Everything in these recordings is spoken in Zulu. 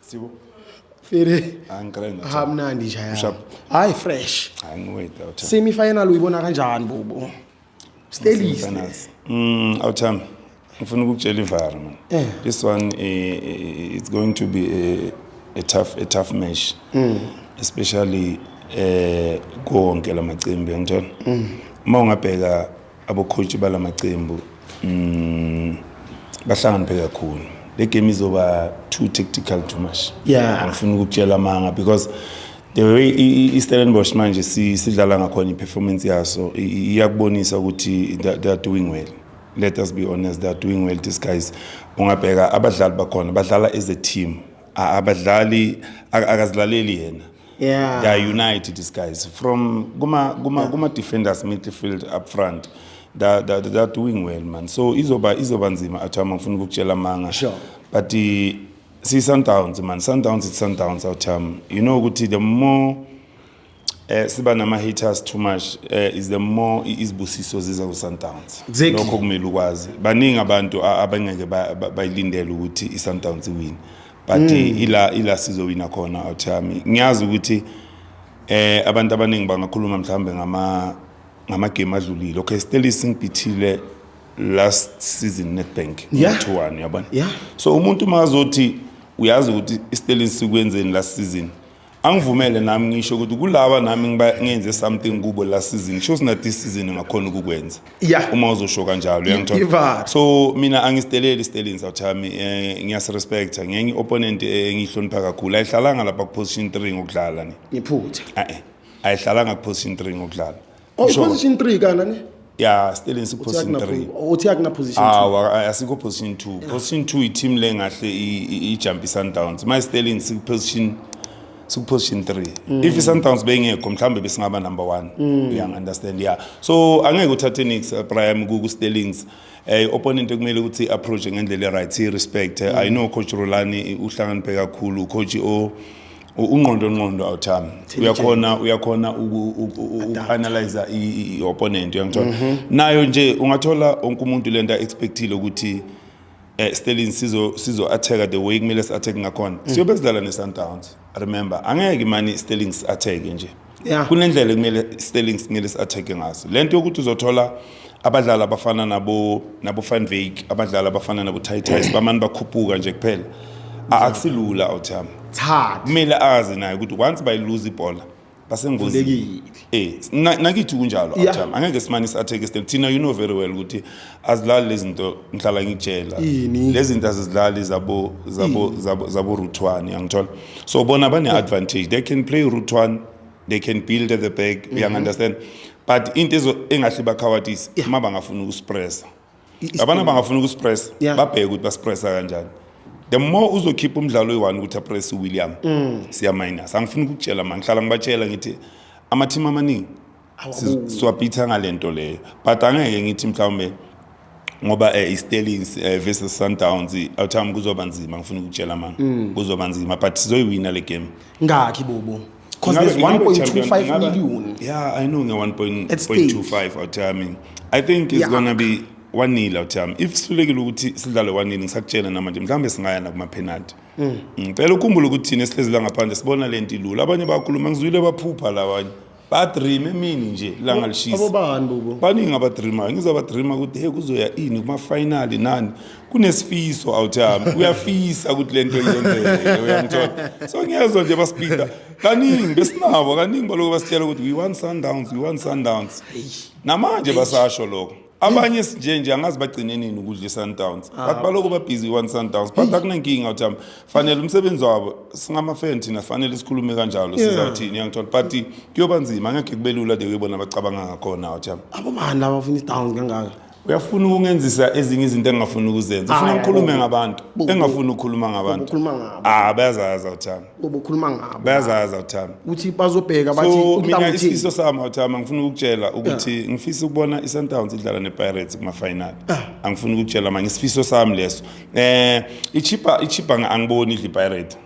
Sibo. Fere. Angicela nje. Hamnandi nje Push up. yaya. Hayi fresh. Angiweda uthami. Semi final uyibona kanjani bubu? Stelise. Finals. Mm, awuthami. Ngifuna ukukutshela ivara man. Eh. This one eh, eh, it's going to be a, a tough a tough match. Mm. Especially eh konke lamacimbi ngithola. Mm. Uma ungabheka Abokhontshi bala macembu mm, bahlakaniphe kakhulu le game izoba too tactical too much yeah. angifuni ukukutshela amanga because the way istellenbosch manje sidlala ngakhona i-performance yaso iyakubonisa ukuthi they are doing well let us be honest they are doing well these guys ungabheka abadlali bakhona badlala as a team abadlali akazilaleli yena yeah. they are united these guys from kuma kuma yeah. kuma defenders midfield up front that that they are doing well man so izoba izoba nzima athama ngifuna ukukutshela manga sure. but uh, see sundowns man sundowns it's sundowns athama you know ukuthi the more eh siba nama haters too much eh is the more izibusiso ziza ku Sundowns lokho kumele ukwazi baningi abantu abangeke bayilindele ukuthi i Sundowns win but mm. ila ila sizowina khona awuthami ngiyazi ukuthi eh abantu abaningi bangakhuluma mhlawumbe ngama ngamagame adlulile okay Stelli singibithile last season Nedbank yeah. 2-1 yabona yeah. so umuntu mazothi uyazi ukuthi iStelin sikwenzeni last season angivumele nami ngisho ukuthi kulaba nami ngiba- ngenze something kubo last season sho sina this season ngakhona ukukwenza Yeah. uma uzosho kanjalo uyangithola? Ivara. so mina angisiteleli isiteleni sawuthami um ngiyasirespecta ngenye i-opponent eh, engiyihlonipha kakhulu ayihlalanga lapha kuposition three ngokudlala ni ngiphutha Eh, eh. ayihlalanga kuposition three ngokudlala Oh, Usho- position 3 kana ne? ya still in Uthi position akuna 3 po- uthi akuna position 2. awa a- asikho position 2 position 2 i-team le ngahle i- i- ijump i-sundowns my sterling sikuposition sikuposition 3 Mm. if i-sundowns beyingekho mhlawumbe besingaba number 1 uyangi-understand ya so angeke uthathe nix prime kusterlings um opponent ekumele ukuthi i-approach ngendlela e-right i-respect i know coach rolani uhlakaniphe kakhulu ucoach o U- ungqondo ngqondo awuthami uyakhona uyakhona uku-analyza i-opponent uyangithola Mhm. nayo nje ungathola onke umuntu le nto a-expectile ukuthi um stelin sizo-atheka the way kumele si-atheke ngakhona Mhm. siyobe sidlala ne-sundowns remember angeke imane i-stelin si-atheke nje yeah. kunendlela ekumele Sterling simele si-attack-e ngazo le nto yokuthi uzothola abadlali abafana nabo nabo Van Wyk abadlali abafana nabo Titus bamane bakhuphuka nje kuphela A- akusilula awuthami Thatha. kumele azi naye ukuthi once bayiluza ibhola basengozini Vulekile. eh na- nakithi kunjalo Yeah. awuthami angeke simane si-attack Sterling thina you know very well ukuthi azilali lezi zinto ngihlala ngitshela Ini? lezi zinto azizilali zabo zabo zabo zabo root one yangithola so bona bane advantage they can play root one they can build at the back mm -hmm. understand but into ezo engahle bakhawatise yeah. uma bangafuna ukuspressa abana bangafuna ukuspressa yeah. babheke ukuthi baspressa kanjani the more uzokhipha umdlalo oyi-one ukuthi apress uwilliam mm. siyaminus angifuni ukukutshela ma ngihlala ngibatshela ngithi amathimu amaningi siwabhitha ngale nto leyo but angeke ngithi mhlawumbe ngoba eh, iStellies eh, versus Sundowns awuthami kuzoba nzima ngifuna ukutshela mama mm. kuzoba nzima but sizoyiwina le game ngakhi bobo because there's 1.25 million yeah i know nge-1.25 awuthami i think it's yeah. gonna be wanile awuthami if sihlulekile ukuthi sidlale wanile ngisakutshela namanje mhlawumbe singaya nakumaphenalty mm. ngicela ukhumbula ukuthi thina esihlezi la ngaphandle sibona le nto ilula abanye bakhuluma ngizwile baphupha labanye badream emini nje langa lishisa abobani bubo baningi abadreamayo ngizabadreama ukuthi hey kuzoya ini kumafinali nani kunesifiso out yami uyafisa ukuthi lento yenzeke uyangithola so ngiyezwa nje basipinda kaningi besinabo kaningi baloko basitshela ukuthi we want sundowns we want sundowns namanje basasho lokho abanye sinje nje angazi bagcine nini ukudla i-sundowns ah. but baloko babhizi i-one sundowns but akunankinga ukuthi hamba fanele umsebenzi wabo singamafeni thina fanele sikhulume kanjalo sizawuthini yangithola but kuyoba nzima angekhe kube lula de kuyibona abacabanga ngakhona ukuthi hamba abobani laba bafuna i-downs kangaka uyafuna ukungenzisa ezinye izinto engingafuni ukuzenza ufuna ngikhulume ngabantu engingafuni ukukhuluma ngabantu ah bayazazi awuthanda obukhuluma ngabo bayazazi awuthami ukuthi bazobheka bathi so mina isifiso sami awuthami angifuni ukukutshela ukuthi ngifisa ukubona i-sundowns idlala ne-pirates kuma-final angifuni ukukutshela manje isifiso sami leso um ichipa ichipa angiboni idla ipirate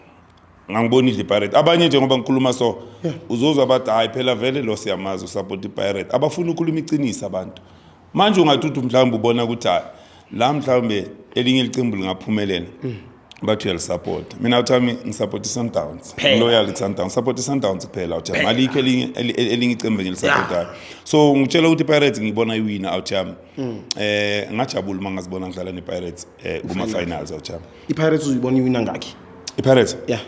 ngangibona idla ipirate abanye nje ngoba ngikhuluma so uzozwa bathi hhayi phela vele lo siyamazi usapota ipirate abafuni ukukhuluma iqiniso abantu manje ungathi uthi mhlawumbe ubona ukuthi hayi la mhlawumbe elinye ilicembu lingaphumelela mm. bathi uyalisupport mina uthami ngisupport i-sundowns loyal i-sundowns support i-sundowns kuphela uthi malikho elinye elinye icembu engilisupportayo so ngitshela ukuthi i-pirates ngiyibona iwina awuthami um mm. eh, ngajabula uma ngazibona ngidlala ne-pirates um kuma-finals awuthami i-pirates uzibona iwina ngakhi i-pirates ya yeah.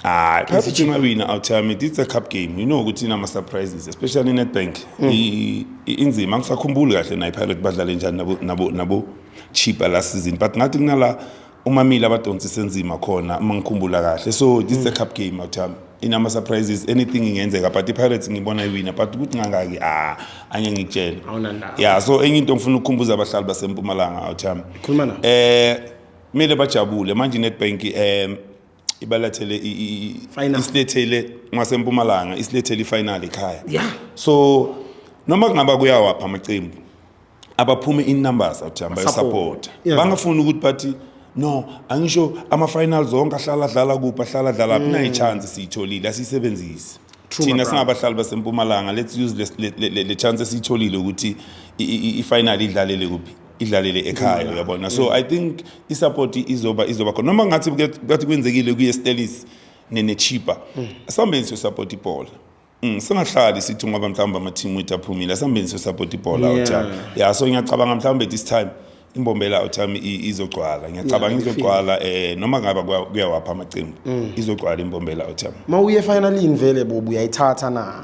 Ah, perhaps if you might win out time, it's a cup game. You know ukuthi inama surprises, especially in Nedbank. Mm. I- i- Inzima angisakhumbuli kahle nayi Pirate badlale njani nabo nabo nabo cheaper last season, but ngathi kunala umamile abadonsise nzima khona uma ngikhumbula kahle. So this is a cup game out time. Inama surprises, anything ingenzeka, but iPirates ngibona iwina, but ukuthi ngangaki ah anye ngikutshela. Awunandaba. Yeah, so enye into ngifuna ukukhumbuza abahlali baseMpumalanga out time. Khuluma nabo. Eh mele bajabule manje iNetbank em ibalethele i- i- i- Final. isilethele ngasempumalanga isilethele ifinal ekhaya Yeah. so noma kungaba kuyawapha amaqembu abaphume in numbers athi hamba Support. yosapota Yeah. bangafuni ukuthi bathi no angisho ama-final zonke ahlala adlala kuphi ahlala adlala phi nayi chance siyitholile asiyisebenzisi Mm. True, my thina brother. singabahlali basempumalanga let's use le- le- le- le chance esiyitholile ukuthi i- i- i- ifinal idlalele kuphi idlalele ekhaya uyabona so i think isupport izoba izoba khona noma ngathi kathi kwenzekile kuye Stellis nenechipa mm. asambeni so support ibhola Mm, singahlali sithi ngoba mhlawumbe amathimu wethu aphumile asambeni so support ibhola yeah. uthami ya so ngiyacabanga mhlawumbe this time imbombela uthami izogcwala ngiyacabanga yeah, izogcwala eh noma ngaba kuyawapha amacimbi mm. izogcwala imbombela uthami mawuye finalini vele bobu uyayithatha na